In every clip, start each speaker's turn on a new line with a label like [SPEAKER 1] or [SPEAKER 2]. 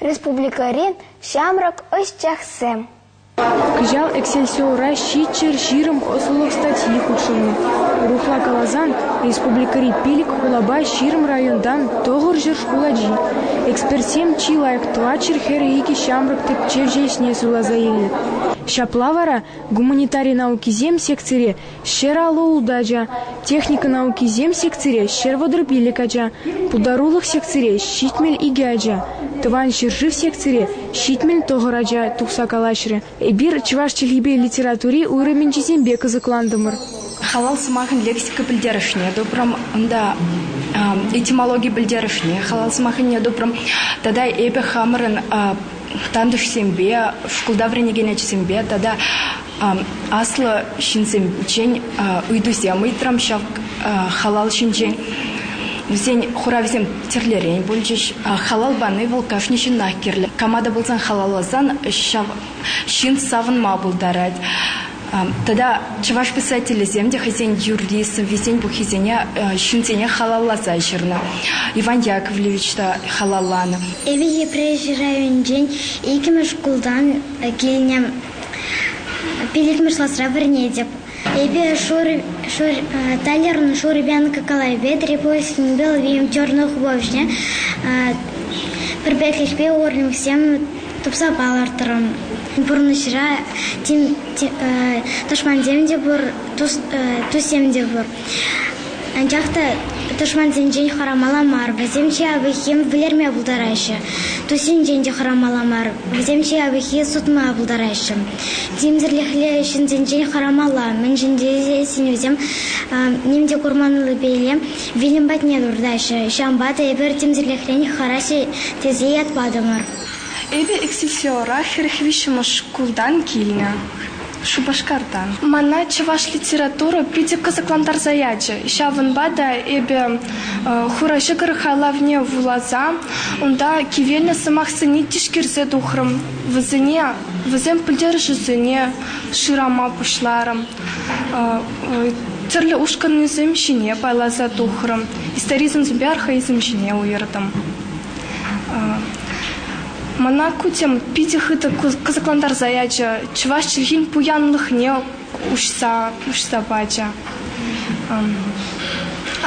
[SPEAKER 1] Республикӑри ҫамрӑк ӑсчахсем. Кӑҫал Эксельсиора ҫиччӗр ҫирӗм ӑслӑлӑх статьи хутшӑннӑ. Урӑхла каласан, республикӑри пилӗк хулапа ҫирӗм районтан тӑхӑрҫӗр шкул ачи. Экспертсем чи лайӑх тӑватҫӗр хӗрӗ икӗ ҫамрӑк тӗпчевҫӗ ӗҫне суйласа илнӗ. Ҫапла вара гуманитари наукисем секцире Ҫӗр алӑ ултачӗ, техника наукисем секцире ҫӗр вӑтӑр пилӗк ача, пултарулӑх секцире ҫитмӗл икӗ ача, тӑван ҫӗршыв секцире ҫитмӗл тӑхӑр ача тухса калаҫрӗ. Эпир чӑваш чӗлхипе литератури уйрӑмӗнчисемпе кӑсӑклантӑмӑр. Халал сӑмахӗн лексика пӗлтерӗшне тупрӑм, унта этимологи пӗлтерӗшне халал сӑмахӗне тупрӑм. Тата эпӗ хамӑрӑн тантӑшсемпе, шкулта вӗренекен ачасемпе тата Аслӑ ҫынсенчен ыйтусем ыйтрӑм ҫав халал ҫинчен. Вӗсен хуравӗсем тӗрлӗрен пулчӗҫ. Халал пани вӑл кашни ҫыннах кирлӗ. Кама та пулсан халалласан ҫав ҫын савӑнма пултарать. Тата чӑваш писателӗсем те хӑйсен юрри, сӑввисен пуххисене ҫынсене халалласа ҫырнӑ. Иван Яковлевич та халалланӑ. Эпӗ Йӗпреҫ районӗнчен иккӗмӗш шкултан килнӗ. Пиллӗкмӗш класра вӗренетӗп. Эпӗ Толерӑн Шурипенко калавӗпе Трипустин Белвим черный художник пӗрпеклӗхпе урлӑхсем тупса палӑртрӑм. Пурнӑҫра тӑшмансем те пур, туссем те пур. Анчах та тӑшмансенчен хӑрамалла мар, вӗсем-че авӑххим вӗлерме пултараҫҫӗ. Туссенчен те хӑрамалла мар, вӗсем-че авӑххи сутма пултараҫҫӗ. Тимсӗрлӗхлӗ ҫынсенчен хӑрамалла, мӗншӗн тесе синӗвсем ним те курманлипеле вилӗм патне туртаҫҫӗ. Ҫавӑнпа та эпир тимсӗрлӗхрен хӑраҫҫӗ тесе ят патӑмӑр. Эпӗ Эксифеора хӗрӗх виҫҫӗмӗш шкултан килнӗ. Шупашкартан. Мана чӑваш литература питӗ кӑсӑклантарса ячӗ. Ҫавӑнпа та эпӗ Хура ҫӑкӑр хайлавне вуласа унта кивелнӗ сӑмахсене тишкерсе тухрӑм. Вӗсене, вӗсен пӗлтерӗшӗсене шырама пуҫларӑм. Тӗрлӗ ушкӑннисем ҫине пайласа тухрӑм. Историзмсемпе архаизм ҫине уйӑртӑм. Мана кутьӑм питӗ хытӑ кӑсӑклантарса ячӗ, чӑваш чӗлхин пуянлӑхне уҫса пачӗ.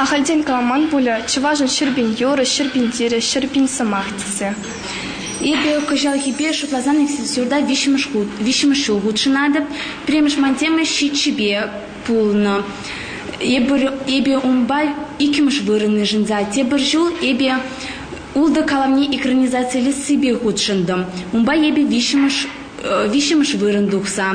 [SPEAKER 1] Ахальтен каламан пулӗ чӑвашӑн ҫӗрпин юрӑ, ҫӗрпин тирӗ, ҫӗрпин сӑмах тесе. Эпӗ кӑҫалхипе шутласан экскурсиюрта виҫҫӗмӗш хут, виҫҫӗмӗш ҫул хутшӑнатӑп. Пӗрремӗш ман тема ҫиччӗпе пулнӑ. Эпир, эпӗ унпа иккӗмӗш вырӑн йышӑнса тепӗр ҫул эпӗ Ултӑ каламне экранизацилессипе хутшӑнтӑм. Унпа эпӗ виҫҫӗмӗш виҫҫӗмӗш вырӑн тухса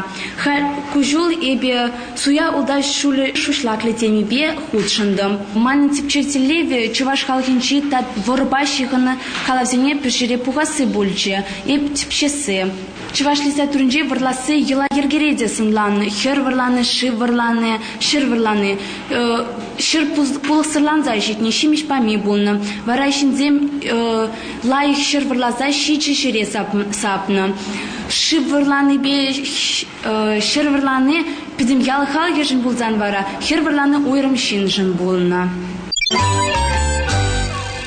[SPEAKER 1] куҫул эпӗ суя ултав ҫулӗ шуҫлаклӑ темипе хутшӑнтӑм. Манӑн тӗпчев тӗллевӗ чӑваш халӑхӗнчи тап вӑрӑпа ҫыхӑннӑ калавсене пӗрҫӗре пухасси пулчӗ, эп тӗпчесси. Чӑваш литературинчи вӑрласси йӑла-йӗркере те сӑнланнӑ. Хӗр вӑрлани, шыв вӑрлани, ҫӗр вӑрлани, ҫӗр пулӑхсӑрланса ҫитнӗ, ҫимӗҫ пами пулнӑ. Вара ҫынсем лайӑх ҫӗр вӑрласа ҫичӗ ҫӗре сапнӑ. Шыв вӑрланипе ҫӗр вӑрлани пӗтӗм ял халӑхӗшӗн пулсан вара хӗр вӑрлани уйрӑм ҫыншӑн пулнӑ.